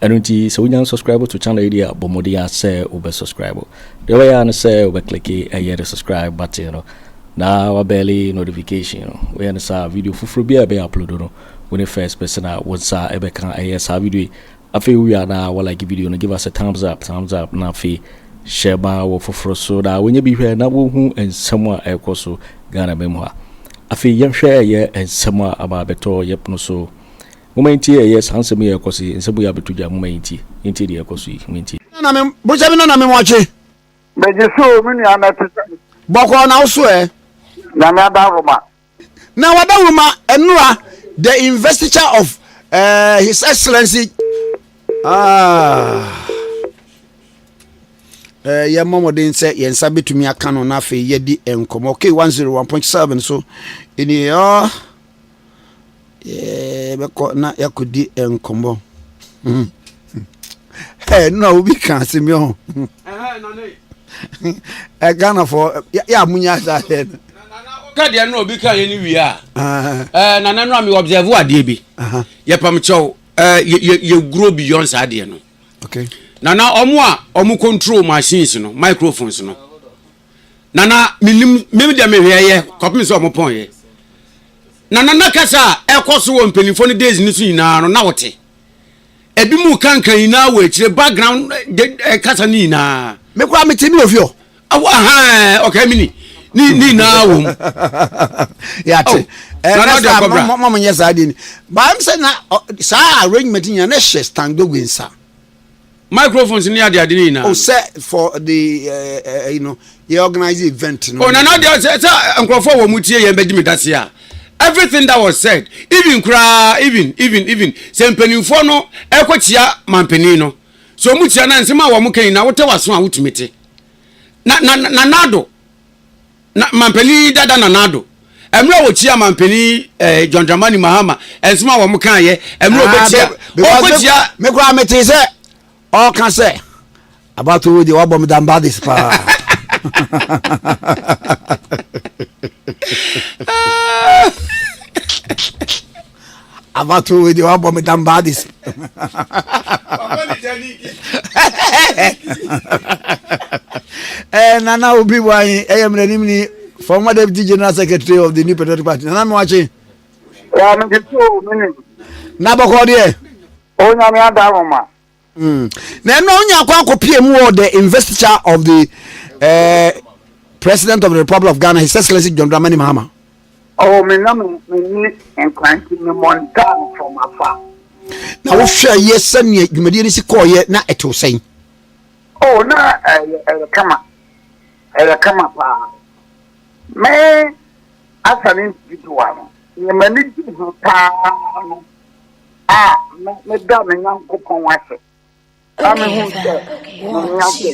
Ɛno nti sɛ wonya unsubscribe to channel yi deɛ a, bɔ mmɔden ara sɛ wobɛ subscribe. Deɛ wobɛyɛ ara ne sɛ wobɛ click ɛyɛ the subscribe button no na wa bɛɛle notification no. Woyɛ no saa a, video foforɔ biara a ɛbɛyɛ upload no, wo ne first person a wo nsa ɛbɛka ɛyɛ saa video yi. Afei wowie a na wa like video no, give us a thumbs up, thumbs up, na afei hyɛ ma wɔ foforɔ so na wɔnyɛ bi hwɛ na wɔhu nsɛm a ɛrekɔ so Ghana mɛmu ha. Afei yɛnhwɛ ɛyɛ nsɛm a aba abɛtɔ yɛpono so. Momma yɛntie ɛyɛ saa nsɛm yi a ɛrekɔ so yi, nsɛm yi abɛto dwa, momma yɛntie, yɛntie deɛ ɛrekɔ so yi, momma yɛntie. Na me bosa bi na na me wɔkye. Megye so o, me nua na ɛte sɛ. Bɔkɔɔ na wo so ɛ. Nyame ada roma. Na wada roma ɛnora the investiture of uh, his excellency ah. Eh, yɛmmɔ mmɔden sɛ yɛn nsa bɛtumi aka no na afei yɛdi nkɔmmɔ k 101.7 so ɛni yɛbɛkɔ na yɛakɔdi nkɔmmɔ nna obi ka asɛm ho ghanafoɔ yɛ a monya saa sɛ no kadeɛ no obi ka yɛ no wie a nana no a me observe adeɛ bi yɛpam kyɛw yɛguro beyond saa adeɛ no nana ɔmo a ɔmo control machines no microphones no nana menim mem deɛ mehwɛɛyɛ kɔpem sɛ ɔmo pɔnyɛ nana na kasa a ɛkɔ so wɔ mpanimfoɔ no days no so nyinaa no na wote ebi mu kankan nyinaa wɔ akyire background eh, kasa no nyinaa mekora mete me ofi hɔ ɔkae me ni ne nyinaa wɔ mu yɛate oh, eh, mɔmonyɛ saa deɛ ni baam sɛ na saa arrangement nyina ne hyɛ standogwe nsa microphones ne ade ade ne nyinaa. o sɛ for the ɛyi no yɛ organize event no. o na na deɛ sɛ sɛ nkurɔfoɔ wɔ mu tie yɛn bɛ di mi dase a everything that was said even koraa even even even sɛ mpanimfoɔ no ɛkɔ kyia mampanin no sɛ wɔn kyia na nsɛm a wɔn kɛn na wotɛ waso a wotumi te na na na nado. Na Manpanin Dada Nana Addo, mmerɛ a wɔkyiaa Manpanin eh, John Dramani Mahama, nsɛm a wɔn kaeɛ, mmerɛ ah, wɔbɛkyia, wɔkɔkyia. Me koraa mete sɛ ɔka sɛ, abato wo deɛ wabɔ me dambades paa. Ah! Abatoɔ wei deɛ wabɔ me dam baa de si. Eh, Nana Obi Wanyi, ɛyɛ mmerɛ nim ni, former deputy general secretary of the New Patriotic Party. Nana Mewakye. Wa me kisi o mini. Na bɔkɔ deɛ. O nyame ada homa. Mm. Na ɛno ɔnya akɔ akɔpie mu wɔ the investiture of the uh, president of the republic of Ghana his excellency John Dramani Mahama. Oh, me na me ni nkwanti me montan from afar. Na wohwɛ yɛ sɛnea dwumadie no si kɔɔyɛ na ɛtew sɛn? Oh, na ɛyɛ eh, eh, kama ɛyɛ eh, kama paa. Me asa ne individual no, nneɛma ne di ho paa no. a me meda me Nyankopɔn ase a mehu sɛ mene ase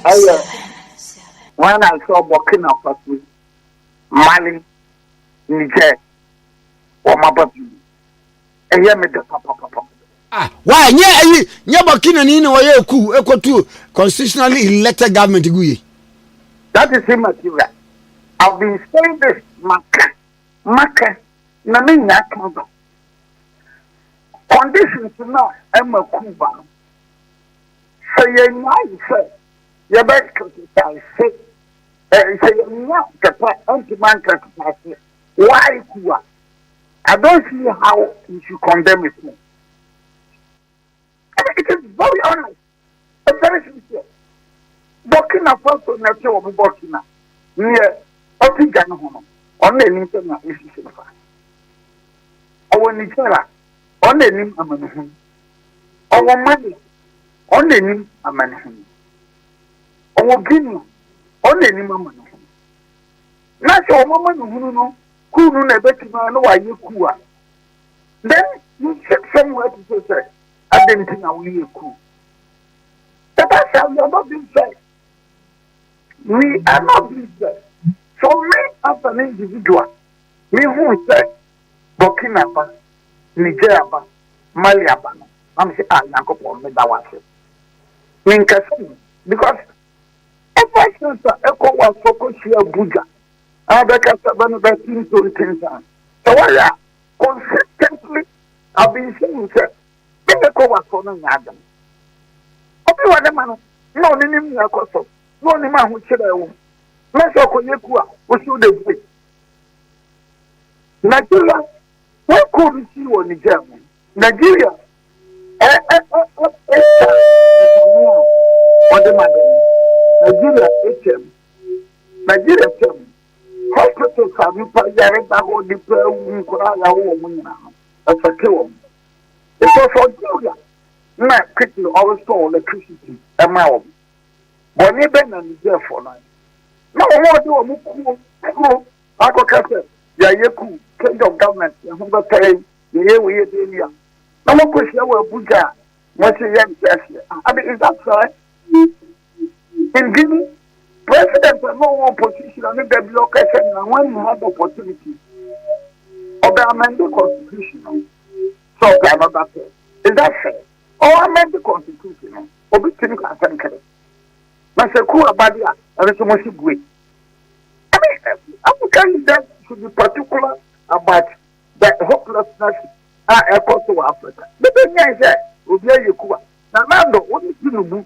ɛyɛ when I saw Burkina Faso, Mali, Niger wɔn aba pii ɛyɛ me dɛ papapapa. Ah, why? Nye ayi, nye Burkina ni na wɔyɛ ku ekotu constitutionally elected government gu ye. That is immaterial. I've been saying this maka Makɛ na menya atom do. Conditions no a ɛma ku ba no, sɛ yɛnyae sɛ yɛbɛ exercise, eh, sɛ yɛnnya kɛpɛ ɛntom ankɛsesase why ku a, I don't see how you should condemn a ku. It is very honest. Ɛkyɛre sen sɛ Burkina Faso na ɛkyɛ wɔ mo Burkina neɛ ɔte gya no ho no ɔno na ɛnim sɛnea ɛsi hyɛ no fa. Ɔwɔ Niger a ɔno na ɛnim amanehunu. Ɔwɔ Mali a ɔno na ɛnim amanehunu. Ɔwɔ Guinea a ɔno na ɛnim amanehunu. Na sɛ wɔn amanehunu no kuu no na ɛbɛtumi a na wɔayɛ kuu a, then you ship somewhere to say sɛ Adɛn nti na woyɛ cool? Papa sɛ we are not being fair. We are not being fair. So me as an individual, me hu sɛ Burkina ba, Niger aba, Mali aba no, na me sɛ ah Nyankopɔn me da wo ase. Me nkasa mu because ever since a ECOWAS fo kɔ hyia Abuja, na wɔbɛkasa bɛ no bɛtintontin saa. Sɛ wɔyɛ a, Consistently I've been saying sɛ me ne kɔ wasoɔ no nyɛ adom. Obi wɔ ne ma no na ɔne nim nea ɛkɔ so na ɔnim ahokyerɛ ɛwɔ mu. Na sɛ ɔkɔ yɛ ku a wosi wo dɛ bue. Nigeria wei kuu bi sii wɔ Niger mu. Nigeria ɛ ɛ ɛ ɛ ɛ ta nsamu a ɔde ma dɔm. Nigeria ɛtɛm. Nigeria tɛm. Hospitals a nnipa yare da hɔ, nnipa awu, nkwadaa yare wɔn nyinaa no, ɛfɛte wɔn. Because Algeria na quickly ɔrestore electricity ɛma wɔn. Bɔne bɛn na Nigerfoɔ no ayɛ? Na wɔn a wɔde wɔn kuo kuro akɔka sɛ yɛayɛ coup, change of government, yɛn ho bɛtɔ yɛn, yɛyɛ wei yɛyɛ wei a, na wɔakɔhyia wɔ Abuja a, wɔse yɛnte aseɛ. Abi, is that fair? Nti no, president a na ɔwɔ opposition a ne da bi ɔka sɛ na ho ani had opportunity. Ɔbɛ amend the constitution no. So ɔpɛ another thing. Is that fair? Ɔwɔ amend the constitution no. Obi tumi ka asɛm kɛrɛ. Na sɛ ku aba de a, ɛno nso mo si bue. I mean, African leaders should be particular about the hopelessness a ɛkɔ so wɔ Africa. Bɛbɛ nyɛ sɛ obi ayɛ ku a, na Nando, wo ne Tinubu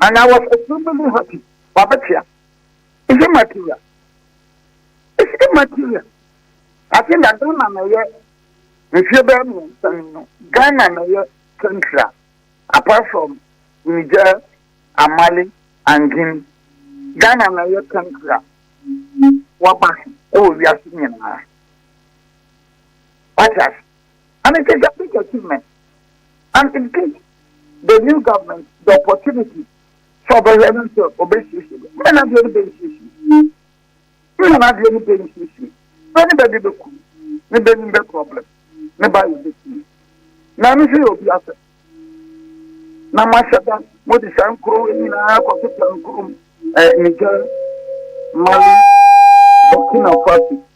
And I was extremely happy. Wabetia. Is it material? Is it material? I think that Ghana na yɛ mfie bɛyɛ mmiɛnsa ni no Ghana na yɛ central apart from Niger and Mali and Guinea Ghana na yɛ central waba ɛwɔ wiase nyinaa wate ase And it is a big achievement and it gives the new government the opportunity sɛ ɔbɛhwɛ no sɛ ɔbɛsiesie bɛ mmerɛ no adeɛ no bɛnsiesie mmerɛ no adeɛ no bɛnsiesie bɛ ne bɛde bɛku ne bɛnim bɛ problem ne ba yɛ bɛsie na ɛno nso yɛ obi asɛ na moahyɛ da mode saa nkuro nyinaa kɔketa nkuro mu eh, Niger Mali Burkina Faso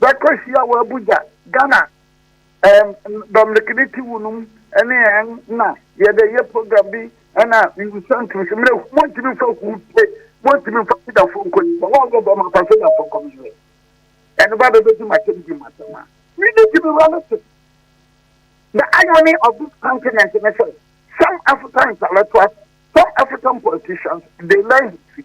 Bɛkɔ hyia wɔ Abuja, Ghana ɛɛm Dominic ne ti wu nom ɛne ɛɛm na yɛde yɛ program bi ɛna mewusa ntum so mmerɛ montumi fa hu pe montumi fa Yudafo nkɔ yi sɛ wɔn yɛ dɛm afa sɛ Yudafo nkɔ me yɛ ɛno ba bɛbɛ di makyɛm di makyɛm a me ne gyimi wura no se the irony of this continent ne sɛ some African intellectuals some African politicians they learn history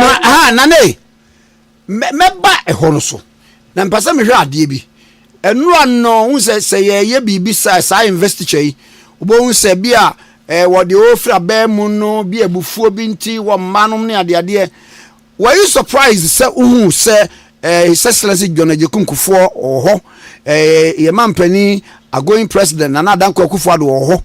Na aha nane mɛba ɛhɔ no so na mpɛ sɛ mehwɛ adeɛ bi nnura no ho sɛ sɛ yɛyɛ biribi saa saa investiture yi wobɛhu sɛ bi a eh, wɔde ɔfiri abɛɛ mu no bi abufuo bi nti wɔ mma nom ne adeadeɛ were you surprised sɛ wohu sɛ eh, his excellency john agyekunkufoɔ wɔ hɔ eh, yɛma mpanin agoing president nana adanko akufoɔ ado wɔ hɔ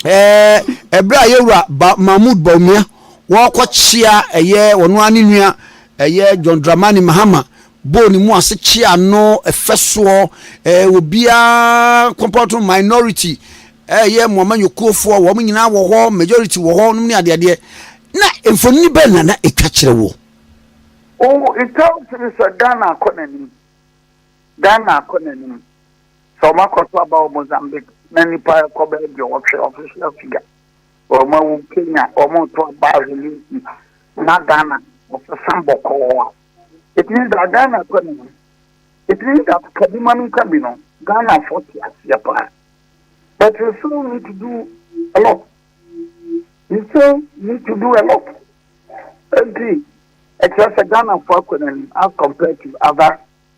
Ɛɛ, berɛ a yɛn wura ba Mahmoud Bawumia wɔrekɔkyea ɛyɛ ɔno ara ne nua ɛyɛ John Dramani Mahama bɔɔ ne mu ase kyea no ɛfɛ soɔ ɛɛ obiara kɔmpɔtɔ minority ɛyɛ Moama Nyokuofoɔ wɔn nyinaa wɔ hɔ majority wɔ hɔ nom ne adeadeɛ na mfonini bɛn na na ɛtwa kyerɛ wɔ. Oh, it tells me sɛ Ghana akɔ n'anim Ghana akɔ n'anim. Sɛ ɔmo akɔ so aba wɔ Mozambique na nnipa rekɔ bɛyɛ aduɔwɔtwe, official figure, wɔ ɔmo awu Kenya, ɔmo reto aba ahwe Lindsay, na Ghana ɔsesa bɔkɔɔ a, it means that Ghana akɔ anim. It means that ka bi ma me nka bi no, Ghanafoɔ te aseɛ paa. But we still need to do a lot. We still need to do a lot. Enti, ɛkyerɛ sɛ Ghanafoɔ akɔ n'anim as compared to other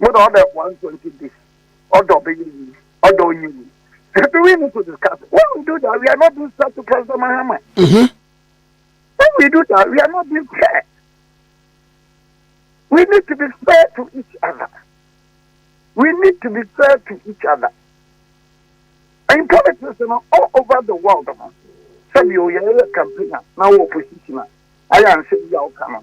Mo na ɔbɛ one twenty days. Ɔdɔ ɔbɛ yɛ yi. Ɔdɔ ɔnyi yi. Do we need to discuss? When we do that, we are not being fair to President Mahama. Mm-hmm. When we do that, we are not being fair. We need to be fair to each other. We need to be fair to each other. In politics, you know, all over the world, you know, some you are a campaigner, now opposition. I am saying you are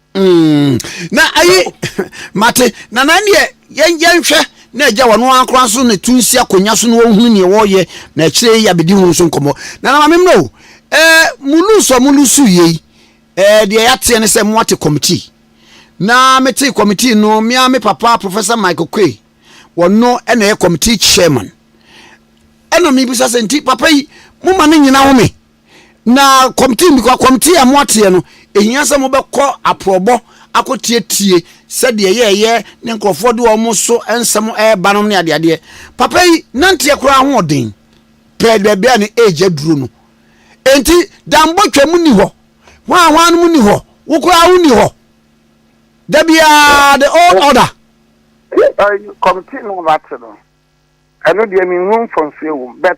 Mm, na ayi mate na na neɛ yɛnhwɛ na agya wɔno ankora so ne to nsi akonnwa so na wɔhunu neɛ wɔyɛ na akyire yi abɛdi ho nso nkɔmmɔ na na maame mmerɛ o eh, mo lusu a mo lusu yei eh, deɛ yɛateɛ ne sɛ moate committee na mete committee no mea me papa professor michael kwe wɔno ɛna ɛyɛ committee chairman ɛna mebisa sɛ nti papa yi moma no nyina home Na kɔmte nni kwa. Kɔmte a moateɛ no, ɛhia sɛ mobɛkɔ aporɔbɔ akɔtietie sɛdeɛ ɛyɛ ɛyɛ ne nkurɔfoɔ de wɔn so nsɛm reba nom ne adeadeɛ. Papa yi nanteɛ koraa ahoɔden pɛɛ baabi a ne age aduro no. Enti Dambo twam nni hɔ, hwan hwan nom nni hɔ, wo koraa wo nni hɔ. Da biara the old order. Kɔmte no a moate no, ɛno deɛ menhunu mfomsoɔ wɔ mu but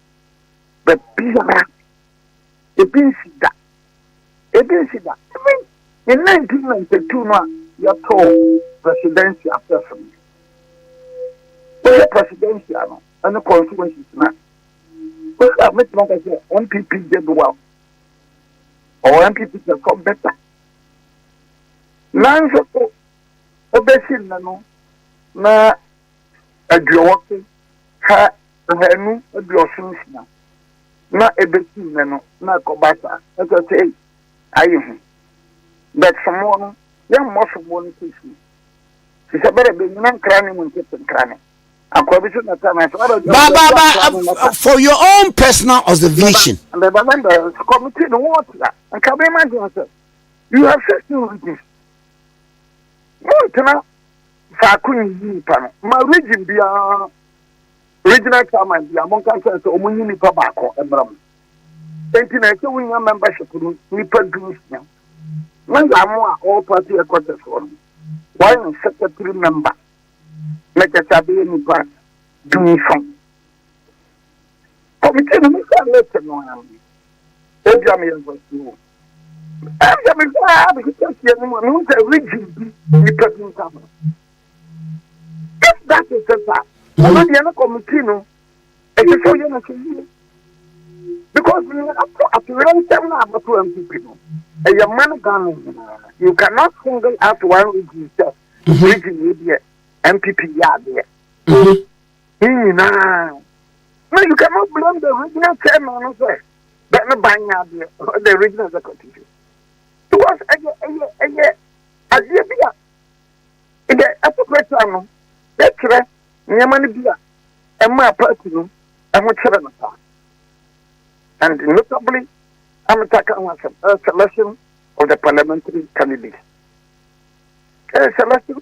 Baabiara. Ebi nsi da. Ebi nsi da. Even in 1992 no a yɛtoo Presidencia Afɛɛfo no, wohwɛ Presidencia no ne constituencies no a, wohwɛ a mɛtumi aka sɛ NPP did well. Ɔwɔ NPP perform better. Nanso so, wobɛsi nnɛ no na aduɔwɔtwe ha ahanu aduɔson nsia na ɛbɛsi nnɛ no na ɛkɔba saa ɛkyɛ sɛ ei ayɛ hu but somoɔ no yɛmmɔ somoɔ no kɛsie te sɛ bɛrɛ bɛnyina nkra ne mu nkete nkra ne akwa bi so na ta na saa bɛrɛ ba ba ba for your own personal observation the November committee no wɔn tia nka bɛma gye sɛ you have said two reasons wɔn tena faako nyi nipa no ma region biara regional chairman bia monka nkyɛn sɛ ɔmo nyi nipa baako mmra mu enti na ɛsɛ wonya membership no nipa du nsia na yɛamo a all party headquarters hɔ no wɔayɛ secretary member na kyɛ sɛ abɛyɛ nipa du nson Kɔmitii no mu sɛ mete no ara no, ebia meyɛ ɔkwasea o, ɛnde mehwɛ ara mehwehwɛ fie no mu a, mehu sɛ regye bi nnipa bi nsa ho. If that is it a, ɛno deɛ no kɔmitii no ɛsɛ sɛ ɔyɛ no so yie because nea ato atoyerɛnkyɛm no a abɛto npp no ɛyɛ mma no Ghana nyinaa. You cannot single out one region sɛ region yi deɛ npp yɛ adeɛ. ne nyinaa na you cannot blame the regional chairman no sɛ bɛ no ban yɛ adeɛ or the regional executive because ɛyɛ ɛyɛ ɛyɛ adeɛ bi a ɛyɛ ɛtopɛtwa no yɛkyerɛ nneɛma no bi a ɛma party no ɛho kyerɛ no paa and notably ametaka ho asɛm selection of the parliamentary candidate selection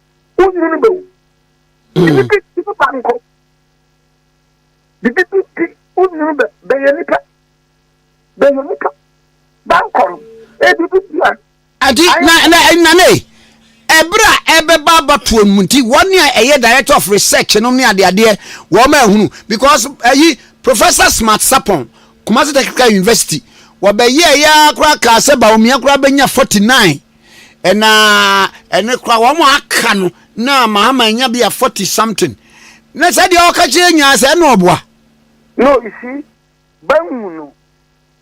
wonwunu bɛwu bibi bi bibi ba nkɔ bibi bi bi wonwunu bɛ bɛyɛ nipa bɛyɛ nipa ba nkɔ no ebi bi bi a. adi na na nane ɛberɛ a ɛbɛba abatoɔ no mu nti wɔn a ɛyɛ director of research nom ne adeadeɛ wɔn a ɛhunu because ɛyi professor smart sapon kumasi technical university wɔbɛyɛ ɛyɛ koraa kaa sɛ baomia koraa bɛnya 49 Na ɛno koraa wɔn aka no na Mahama anya bi a forty something. Na sɛ deɛ ɔka kyerɛ nyinaa sɛ ɛna ɔboa. No you see, bangu no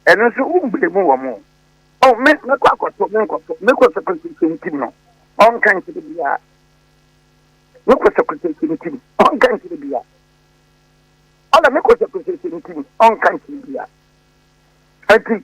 ɛno nso wo blame wɔn o. Oh me mɛkɔ akɔtɔ me nkɔtɔ me kɔsɛkɔsɛ kyentim no ɔnka nkyerɛ biara. Me kɔsɛkɔsɛ kyentim ɔnka nkyerɛ biara. Ɔna me kɔsɛkɔsɛ kyentim ɔnka nkyerɛ biara. Ɛti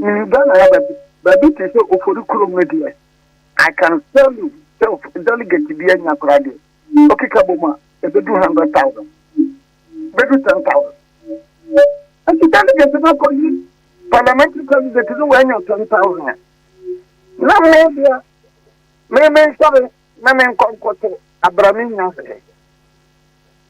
Menim Ghana ha baabi baabi te sɛ Ofori kurom no deɛ, I can tell you sɛ delegate bi anya koraa deɛ, ɔkeka bom a, ɛbɛdu hundred thousand, ɛbɛdu ten thousand. Nti delegate no akɔyi parliamentary candidate no wanya o ten thousand a, na me deɛ me mensɔre na menkɔ nkɔto abra me nya hwee.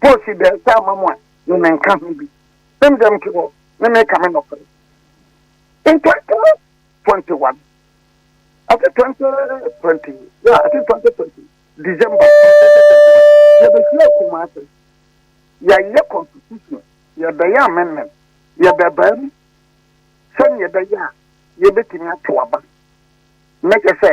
Paul si dɛn sɛ ama mo a ne me nka ho bi? Sɛm dɛm nti hɔ ne me ka me nɔfere. Ntɔnte mu twenty one, ɛte twenty twenty, ya ɛte twenty twenty, December, yɛbɛhyia kuma ase, yɛyɛ constitution, yɛbɛyɛ amendment, yɛbɛbaa mu sɛnea ɛbɛyɛ a yɛbɛtumi ato aba. Mɛkyɛ sɛ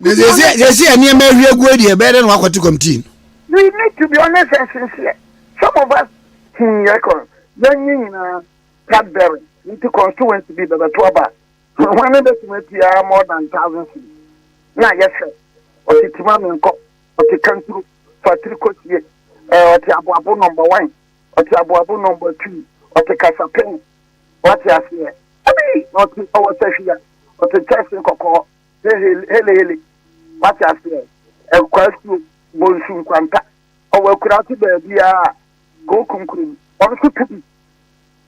na sɛsi sɛsi a nneɛma ahwie agu yi deɛ ɛbɛyɛ dɛ na wakɔte kɔmtii no. we need to be honest and sincere some of us hun yɛ kɔ yɛn nyɛ nyinaa cadbury nti constituency bi bɛbɛto aba wɔn ne bɛtumi atua more than thousand feet na yɛsɛ ɔte tima mi nkɔ ɔte kanturu fatiri kɔsie ɔte aboabo number one ɔte aboabo number two ɔte kasapɛn Wate aseɛ? Dabi, na ɔte, ɔwɔ sahwi a, ɔte kyɛse kɔkɔɔ, hehele, helehele. Wate aseɛ? Ɛkwasuo, bonsu nkwanta, ɔwɔ akurase baabiara a, kookum kurom, wɔn nso to bi.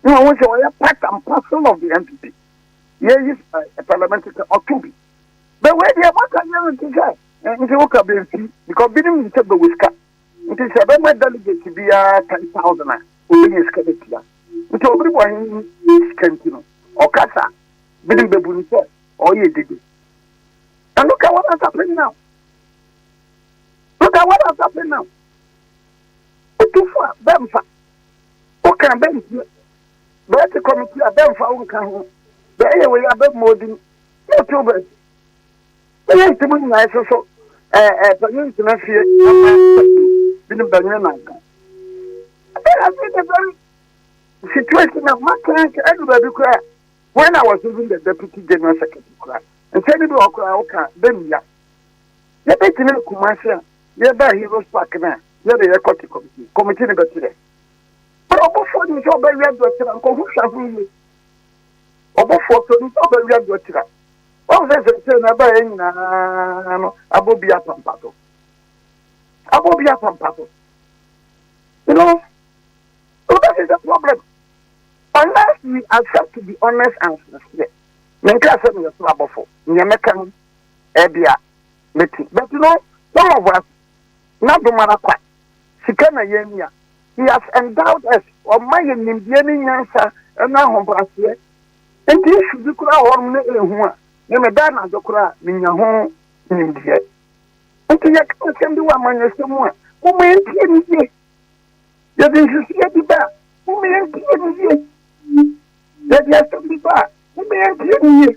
Na wɔn sɛ wɔyɛ part and parcel of the NPP. Yɛyi ɛ, parliament sɛ ɔto bi. Bɛwɛ deɛ, moaka yɛn nti sɛ, nti woka bɛmfii, because binom nim sɛ bɛwɔ sika. Nti sɛ bɛma delegate biara ten thousand a, obenya sika de atua. Nti obiri bɔ he ne sika nti no, ɔkasa a, binom bebu no sɛ ɔreyɛ dede. And look at what has happened now. Look at what has happened now. Otufo a bɛmfa, woka bɛntie, bɛte committee a bɛmfa wo nka ho, bɛyɛ wei a bɛmmɔ odin, na ɔte wo baabi. Bɛyɛ nti mo nyinaa ɛso so ɛɛ ɛɛ panyin ntena fie na mo bi ne banyin na nka. Ɛbɛyɛ ase the very situation na ma kan nka ɛdu baabi kura when I was even the deputy general secretary kura nsɛm bi wɔ kura ɔka bɛmia yɛ bɛ gyina kumase a yɛ bɛ heroes park na yɛ de yɛ kɔte committee committee ne bɛ ti dɛ bɛrɛ ɔbɔfoɔ ni sɛ ɔbɛyɛ dɔtera nkɔhu hwɛ ho yie. Ɔbɔfoɔ pɛ no nti a ɔbɛwea deɛ ɔkyerɛ a. Woahu sɛ seesei na ɛbaeɛ nyinaa no abɔ obi apampa so. Abɔ obi apampa so. You know, so that is the problem. Unless we accept to be honest and sincere. Menka sɛ meyɛ so abɔfo. Nea mɛka no, ɛbi a, mɛti. But you know, some of us, na domara kwa. Sika na yɛnhia. He has endowed us, ɔma yɛn nimdeɛ ne nyansa ne ahobrɛaseɛ. Enti issue bi koraa wɔ hɔnom na ɛhu a, me meda anadwo koraa a, menya ho nimdeɛ. Enti yɛka asɛm bi wɔ amanyɔsɛm mu a, momma yɛntie no yie. Yɛde nsusuiɛ bi ba a, momma yɛntie no yie. Yɛde asɛm bi ba a, momma yɛntie no yie.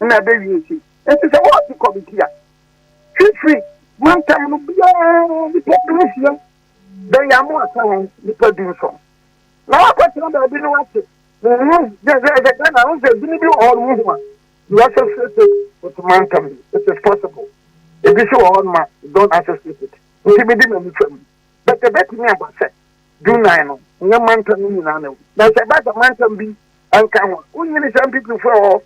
na ɛbɛwie si. Enti sɛ wɔte kɔmiti a fifiri mantam no biara nnipa dunsia bɛyɛ a moaka wɔn nnipa dunson na wɔakɔtena baabi na wɔate honhom gyɛgyɛgyɛ dɛ na ho sɛ dini bi wɔ hɔ no mu ho a you associate it with mantam it is possible ebi so wɔ hɔ no ma don't associate it nti mede m'ani fa mu but ɛbɛtumi aba sɛ dunan no nyɛ mantam no nyinaa na na sɛ ɛba sɛ mantam bi anka ho a wonyini sɛ mpipifoɔ wɔ hɔ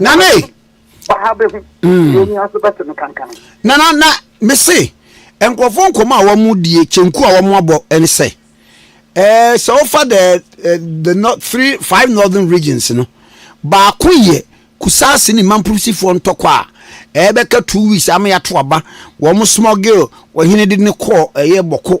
nane baha bɛhu mm. deɛ ɔni aso bɛte no kankan nana na mese nkurɔfoɔ nkɔmɔ a wɔn die kyenku a wɔn abɔ ɛne sɛ ɛɛ eh, sɛ wofa the eh, the north three five northern regions no baako yɛ kusaase ne mampurisifoɔ ntɔkɔ a ɛbɛka two weeks ama yɛato aba wɔn smuggle wɔhene de ne kɔɔ ɛyɛ bɔko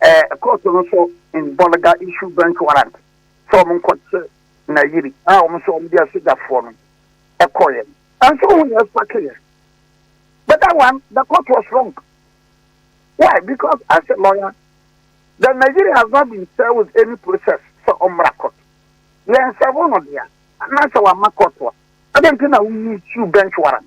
Ɛkɔɔ so nso in Bolga issued bench warrant sɛ wɔn nkɔkye Nayiri a wɔn nso wɔn de asogyafoɔ no kɔeɛ. Nso wohu nea ɛspakeeɛ? But that one the court was wrong. Why? Because as a lawyer, the Nayiri has not been served with any process sɛ ɔmmra court. Yɛnsɛvo no dea anaasɛ wamma court a, adɛn nti na wo issue bench warrant?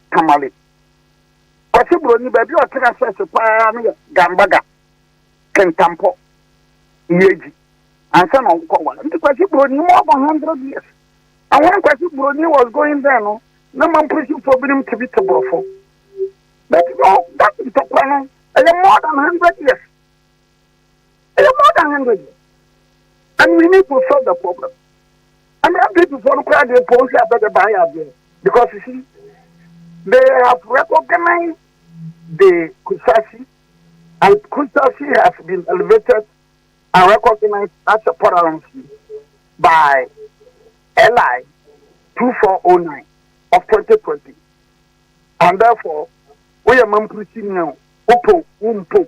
Tamale. Kwasi Buroni, baabi a ɔtra hyɛse paa no yɛ Gambaga, Kintampo, Yeji, ansa na ɔkɔ ware. Nti Kwasi Buroni more than hundred years. And when Kwasi Buroni was going there no, na Mamprosifoɔ binom te bi te Borɔfo. But no, that ntɔkwa no, ɛyɛ more than hundred years. ɛyɛ more than hundred years and we need to solve the problem ɛna npp foɔ no koraa deɛ pɔn si abɛ de ban yɛ adeɛ because you see they have recognized the kusashi and kusashi has been elevated and recognized as a paralansi by LI 2409 of 2020 and therefore we are mamprisi now upo umpo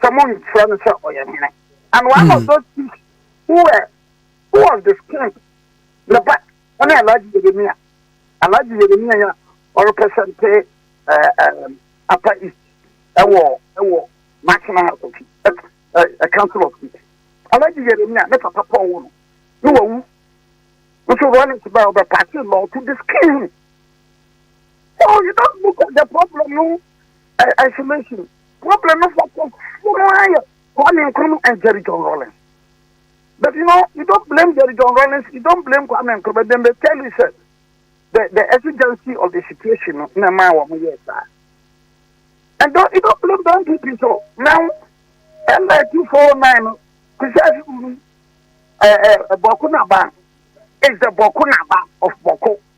sɛ monkyerɛ no sɛ ɔyɛ hene and one mm. of those things who were who was the king ne ba ɔne alhaji yeremia alhaji yeremia yɛ ɔrepresente ɛɛ ɛɛ apa east ɛwɔ ɛwɔ national house of ɛɛ council of state alhaji yeremia ne papa paul wɔ no ne wɔ wu nso rollins ba ɔbɛ paati law to disclaim so you don't look at the problem no isolation problem no fɔ kɔ mo mo ayɛ Kwame Nkrumah and Jerry John Rawlings but you know you don't blame Jerry John Rawlings you don't blame Kwame Nkrumah but then they tell you sir the the exigency of the situation no na ma wɔ mo yɛ saa and don't you don't blame the NPP so now ɛna two four nine no kusa ɛɛ ɛɛ bɔko naba is the bɔko naba of bɔko.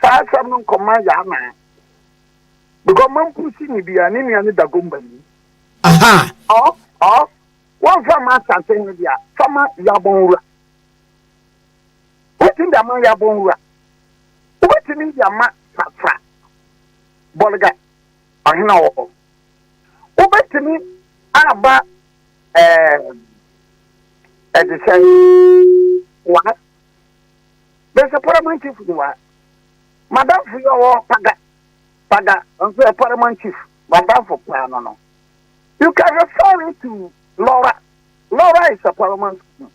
saa asɛm no nkɔma yɛ anaa because mampu si ne bia ne nua ne dagomba ni aha ɔ ɔ wɔmfa ma asante ne bia fama yabɔn wura wobɛtumi de ama yabɔn wura wobɛtumi de ama fafra bɔlega ɔhena wɔ hɔ wobɛtumi aba ɛɛ ɛde sɛ wa Bɛsɛ Paramount Chief ni wa. Madamfo yi ɔwɔ Paga Paga nso yɛ Paramount Chief madamfo paa no no. You can refer it to Laura. Laura is a Paramount Chief.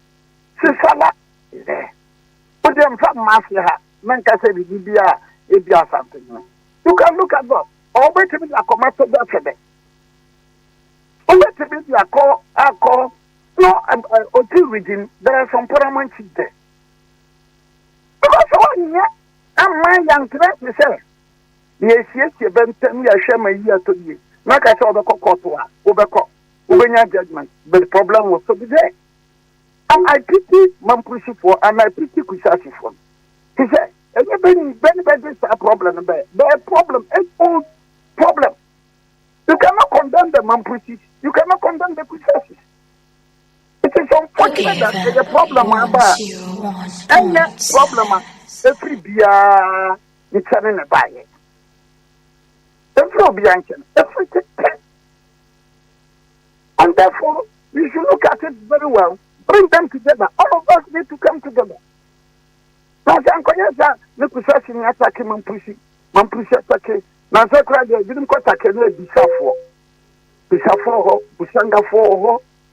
Sisala is there. O deɛ nfa mma ase ha na nka sɛ biribi bi a ebi asante no. You can look at God. Ɔwɔ bɛtumi de akɔ Masada Sɛbɛ. Ɔbɛtumi de akɔ akɔ no ɔti region there are some Paramount Chief there. Ɛbɛba sɛ wɔnyɛ mma yɛankyerɛ te sɛ yɛresiesie bɛ ntɛm yɛhwɛ ma yi atɔ yie na aka sɛ wɔbɛkɔ kɔɔto a wobɛkɔ wobɛnya judgement but problem will still be there and I pity Mamprosifoɔ and I pity Kusaasifoɔ te sɛ ɛnyɛ bɛ ni bɛ ne bɛgye saa problem no bɛyɛ bɛyɛ problem age old problem you cannot condemn the Mamprosis you cannot condemn the Kusaasis It is unfortunate that ɛyɛ problem a ɛba a ɛnyɛ problem a ɛfiri biara nkyɛne na ɛbaeɛ. Ɛmfiri obiara nkyɛne, ɛfiri tete. And therefore, you should look at it very well. Bring them together. All of us need to come together. Na sɛ nkɔyɛ sɛ ne kusa si ne atake mampusi, mampusi atake, na sɛ kora deɛ ebinom kɔ take ne abisafoɔ, bisafoɔ hɔ, busangafoɔ hɔ,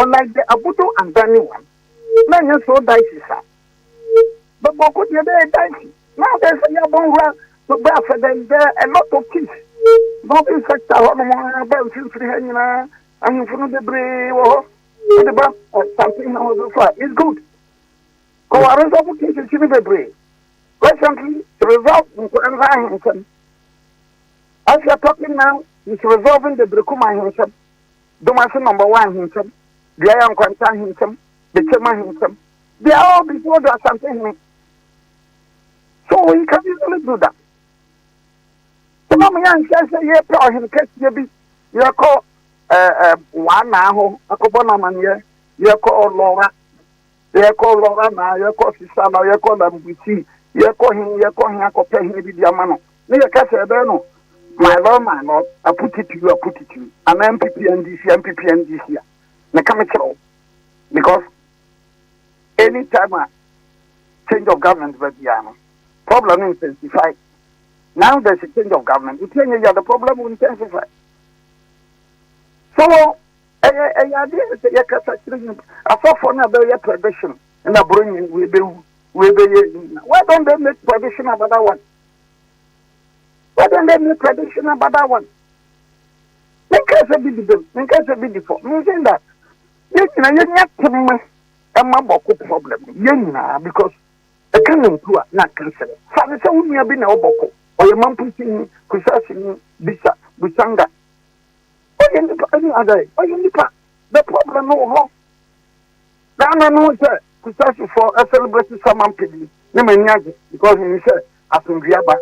Ɔlaigye abodo ansa ne wom na ɛnyɛ so daesi sa bɛbɔ ko deɛ bɛyɛ daesi na abɛyɛ sɛ yɛabɔ nwura no bɛ afɛ dɛ dɛ a lot of kids northern sector hɔ nom bɛ mfimfini ha nyinaa ahemfo no bebree wɔ hɔ wode ba something na wɔde so a is good kɔware nso ɔmo cases no bebree recently resolve nkɔla nsa ahensɛm as you are talking now is resolving the Brekum ahensɛm Domase Number One Ahenkyɛm, Duaya Nkwanta Ahenkyɛm, Bekyem Ahenkyɛm, they are all before the Asante Hene. So he can easily do that. Sima mo yɛnhwɛ sɛ yɛpɛ ɔhene kɛseɛ bi yɛkɔ ɛɛ ɛɛ wanaa hɔ akɔbɔ no amanneɛ yɛkɔ ɔlɔra Yɛkɔ Lorana, yɛkɔ Sisala, yɛkɔ Lambusi, yɛkɔ he, yɛkɔ he akɔpɛ he bi de ama no. Ne yɛka sɛ ɛbɛyɛ no my lord, my lord, I put it to you, I put it to you. Anaa MPP NDC, MPP NDC a. Meka me kyerɛ wo. Because any time a change of government ba biara no, problem no intensify. Now there's a change of government. Nti ɛnyɛ yɛ the problem will intensify. So Ɛyɛ ɛyɛ adeɛ a sɛ yɛkasa kyerɛ nyimpa asɔfoɔ no a bɛyɛ prediction na bronyi wei bɛwu wei bɛyɛ ayi nyina why don't they make prediction about that one why don't they make prediction about that one menka sɛ bi di bem menka sɛ bi di fɔ me saying that yɛ nyina yɛnya tema ɛma bɔko problem yɛ nyinaa because ɛka ne ntu a na nka sɛ fa ne sɛ wo nua bi na ɔbɔko ɔyɛ mampo sini kusasini bisa busanga Ɔyɛ nipa ɛne adɛn? Ɔyɛ nipa. The problem no wɔ hɔ. Ghana no sɛ Kusasi fɔ ɛ celebrate Saman pedi ne m'ani agye because me nim sɛ asomdwe aba.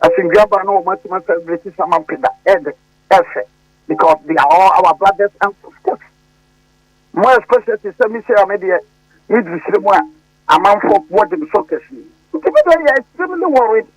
Asomdwe aba na wɔn atuma celebrate Saman peda ɛ de ɛ fɛ because they are all our brothers and sisters. Mo especially te sɛ me sɛ ame deɛ me diri sire mu a amanfo bɔ de me so kɛse. Nti me deɛ yɛ extremely worried.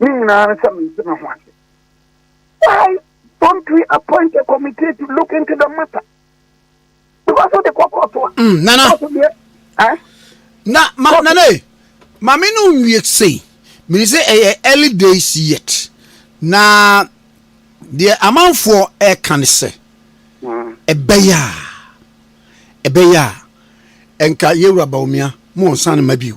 ne nyinaa ne sɛ mente me ho ase why don't we appoint a committee to look into the matter because of the kɔkɔ to a mm, nana eh? na ma okay. nana e, maame no nwie sei mene sɛ ɛyɛ early days yet na deɛ amanfoɔ ɛka ne sɛ mm. ɛbɛyɛ a ɛbɛyɛ a ɛnka yɛwura baomia ma ɔnsa no ma bio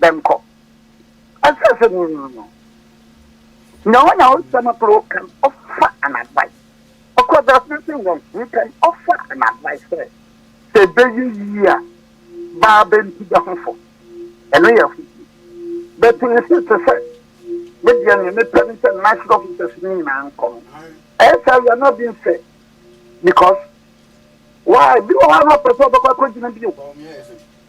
bɛnkɔ. Ɔsɛ sɛ no no no na wɔn a ɔsɛ no pere kan ɔfa an advice. Ɔkɔ bɛs no sɛ wɔn he kan ɔfa an advice sɛ sɛ ɛbɛyɛ yie a baa bɛnti bɛ ho fɔ. Ɛno yɛ ho yie. But nsi te sɛ me deɛ neɛ me pɛ ne sɛ national officers no nyinaa nkɔ no. Ɛyɛ saa we are not being fair because why bi wɔ hɔ a na ɔpɛ sɛ ɔbɛkɔ akɔgyina bio.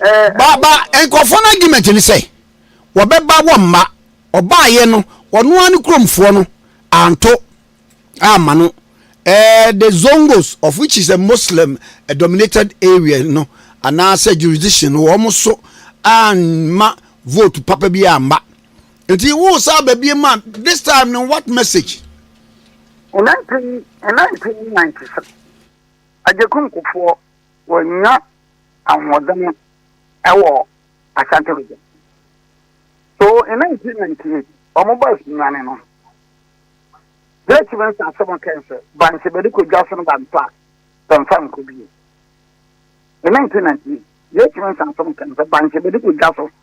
Ba ba nkurɔfoɔ no argument ne sɛ wɔbɛba wɔmma ɔbaeɛ no ɔno ara ne kuromfoɔ no anto amma no eh, the zongos of which is a Muslim a dominated area no anaasɛ jurisdiction no wɔn so amma vote papa bi amma nti wo saa ba bi ma this time no what message. In 19, in 1996 agyeku nkofoɔ wɔnya ahoɔden wɔ Ashanti region. So in 1998, wɔn bɔ asunwani no, Great Chiefs asɛm kɛn sɛ, Bankye bɛde kɔ dwa so no bantɔ a, bɛmfa nkɔ bio. In 1998, Great Chiefs asɛm kɛn sɛ, Bankye bɛde kɔ dwa so.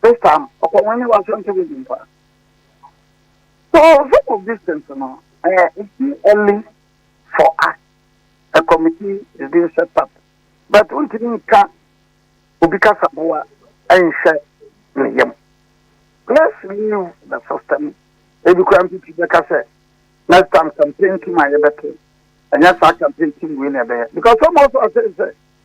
This time, ɔkɔ wɔn ne w'asɛmpa mu bi mpa. So some of these things no, eh, it's too early for us. A committee is being set up. But wontumi nka obi kasaboa nhwɛ ne yam. Let's leave the system. Ebi koraa mpipi bɛka sɛ, next time campaign team a yɛbɛto, ɛnyɛ saa campaign team wei na ɛbɛyɛ. Because some also are saying sɛ,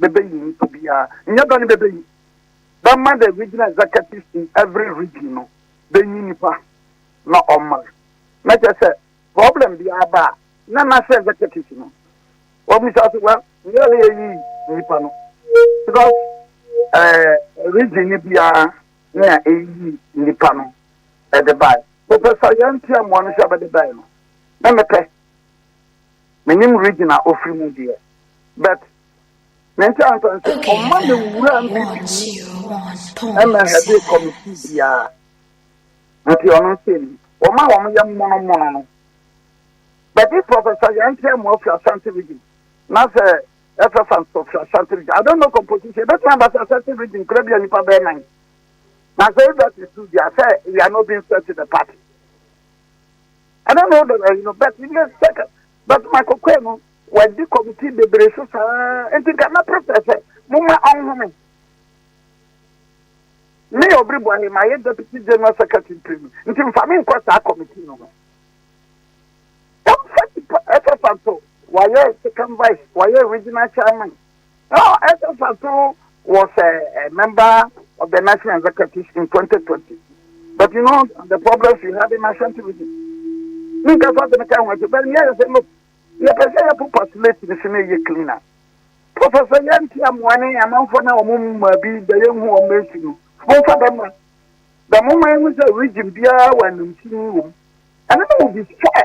bɛbɛyi nnipa biara, nyɛ bɛ ne bɛbɛyi, bɛma the regional executives in every region no bɛnyi nnipa na ɔmma, na kyerɛ sɛ problem biara ba a, na national executives no wɔmmisa sɛ well nyɛ yɛ na yɛyi nnipa no because ɛɛ region no biara na ɛyi nnipa no ɛde bae. Professor Yantia Mmoa no hyɛ bɛde bae no, na mepɛ Menim region a ɔfiri mu deɛ but ne nkyɛ ansa nso ɔmma me nwura mfifini ɛmɛ hɛde committee biara nti ɔno nkyɛ ni wɔn a wɔn yɛ mmono mmono no bɛde professor yɛn nkyɛn mu afiri Ashanti region na sɛ ɛfɛ fa nso firi Ashanti region I don't know composition ɛbɛtumi aba sɛ Ashanti region kura bi a nipa bɛyɛ nan na sɛ ɛda ti su deɛ sɛ we are not being fair to the party. Ɛna na ɔdɔ ayi no but yɛ second but ma kɔkɔɛ no wadi committee bebree so saa nti nka mɛpere sɛ sɛ moma ɔnhome me yɛ ɔbere bɔ he ma yɛ deputy general secretary mprenu nti mfa me nkɔ saa committee no ho ɛmfa nipa ɛsɛ santo wayɛ second vice wayɛ regional chairman Now, ɛsɛ sɛ so was a, a member of the National Executive in 2020. But you know, the problems we had in National Television. Me ka sa tene ka ho ase, but yeah, say look, ye pese ye po postulate ni se na ye cleaner. Professor Yanti Amwane amanfo na omo ma bi da ye hu omo esi no. Mo fa dem ma. Da mo ma hu se region biara wa nimtini wo. And no will be fair.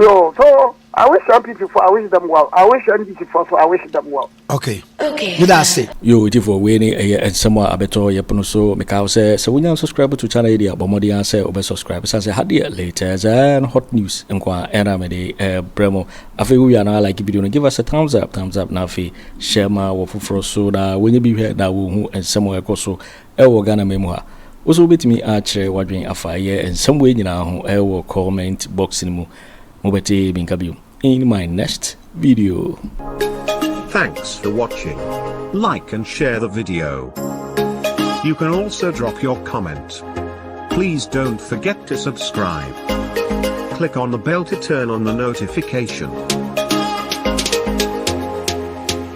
Yo, so I wish MPP for I wish them well. I wish NDC for so I wish them well. Okay. Okay. Meda ase. Yo, iti for we ni eye nsem a abeto ye pono so me ka se se wonya subscribe to channel edi abɔ mmɔden a sɛ wobɛ subscribe san sɛ ha deɛ latest and hot news nko a ɛna mede ɛbrɛ mo afei wowia na like video no give us a thumbs up thumbs up na afei hyɛ ma wɔ foforɔ so na wɔnyɛ bi hwɛ na wɔhu nsɛm a ɛkɔ so Wɔ Ghanaman mu ha, wo so wobɛtumi akyerɛ w'adwene afa ɛyɛ nsɛm wei nyinaa ho wɔ comment box no mu. Mobɛte me nka biom in my next video. Thanks for watching. Like and share the video. You can also drop your comment. Please don't forget to subscribe. Click on the bell to turn on the notification.